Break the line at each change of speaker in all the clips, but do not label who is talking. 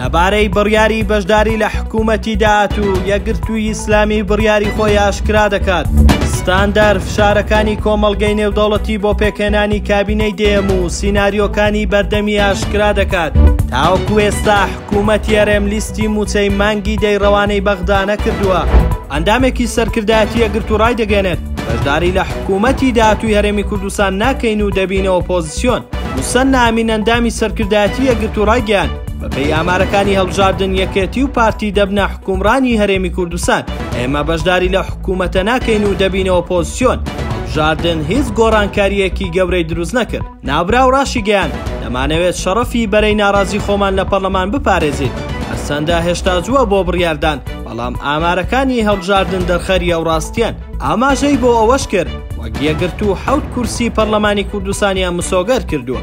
لەبارەی بڕیاری بەشداری لە حکوومەتی داات و یەگرتووی ئیسلامی بڕیاری خۆی ئاشکرا دەکات ستاندەر فشارەکانی کۆمەڵگەی نێودەوڵەتی بۆ پێکهێنانی کابینەی دێم و سینناریۆکانی بەردەمی ئاشکرا دەکات تاوەکو ئێستا حکوومەت یارێم لیستی موچەی مانگی دەی ڕەوانەی بەغدا نەکردووە ئەندامێکی سەرکردایەتی یەگرت و ڕای دەگەێنێت بەشداری لە حکوومەتی داات و هەرێمی کوردستان ناکەین و دەبینەوە پۆزیسیۆن موسەننا ئەمین ئەندامی سەرکردایەتی یەکگرتوو ڕایگەیاند، بەپێی ئامارەکانی هەڵبژاردن یەکێتی و پارتی دەبنە حوکمڕانی هەرێمی کوردستان، ئێمە بەشداری لە حکومەتە ناکەین و دەبینە ئۆپۆزسیۆن، هەڵبژاردن هیچ گۆڕانکارییەکی گەورەی دروست نەکرد. ناوبراو ڕاشیگەیاند، دەمانەوێت شەڕەفی بەرەی ناڕازی خۆمان لە پەڕلەمان بپارێزین، هەرچەندە هێشتا زووە بۆ بڕیاردان، بەڵام ئامارەکانی هەڵبژاردن دەرخەری ئەو ڕاستییەن. ئاماژەی بۆ ئەوەش کرد، وەک یەکگرتوو حەوت کورسی پەرلەمانی کوردستانیان مسۆگەر کردووە.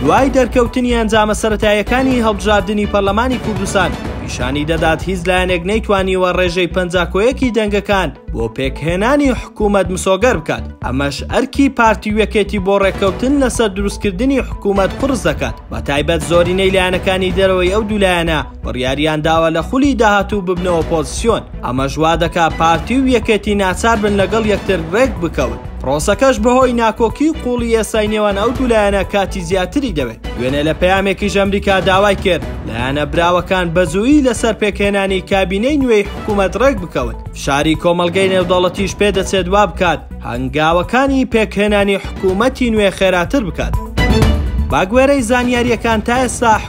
دوای دەرکەوتنی ئەنجامە سەرەتاییەکانی هەڵبژاردنی پەرلەمانی کوردستان، پیشانی دەدات هیچ لایەنێک نەیتوانیوە ڕێژەی پەنجا کۆ یەکی دەنگەکان بۆ پێکهێنانی حکوومەت مسۆگەر بکات، ئەمەش ئەرکی پارتی و یەکێتی بۆ ڕێککەوتن لەسەر دروستکردنی حکوومەت قورس دەکات، بەتایبەت زۆرینەی لایەنەکانی دەرەوەی ئەو دوو لایەنە بڕیاریان داوە لە خولی داهاتوو ببنەوە پۆزسیۆن، ئەمەش وا دەکا پارتی و یەکێتی ناچار بن لەگەڵ یەکتر رێک بکەون، پرۆسەکەش بەهۆی ناکۆکی و قووڵی ئێستای نێوان ئەو دوو لایەنە کاتی زیاتری دەوێت، دوێنێ لە پەیامێکیش ئەمریکا داوای کرد لایەنە براوەکان بەزوویی لەسەر پێکهێنانی کابینەی نوێی حکوومەت رێک بکەون، فشاری کۆمەڵگەی نێودەوڵەتیش پێدەچێت وا بکات هەنگاوەکانی پێکهێنانی حکوومەتی نوێ خێراتر بکات. بەگوێرەی زانیارییەکان تا ئێستا،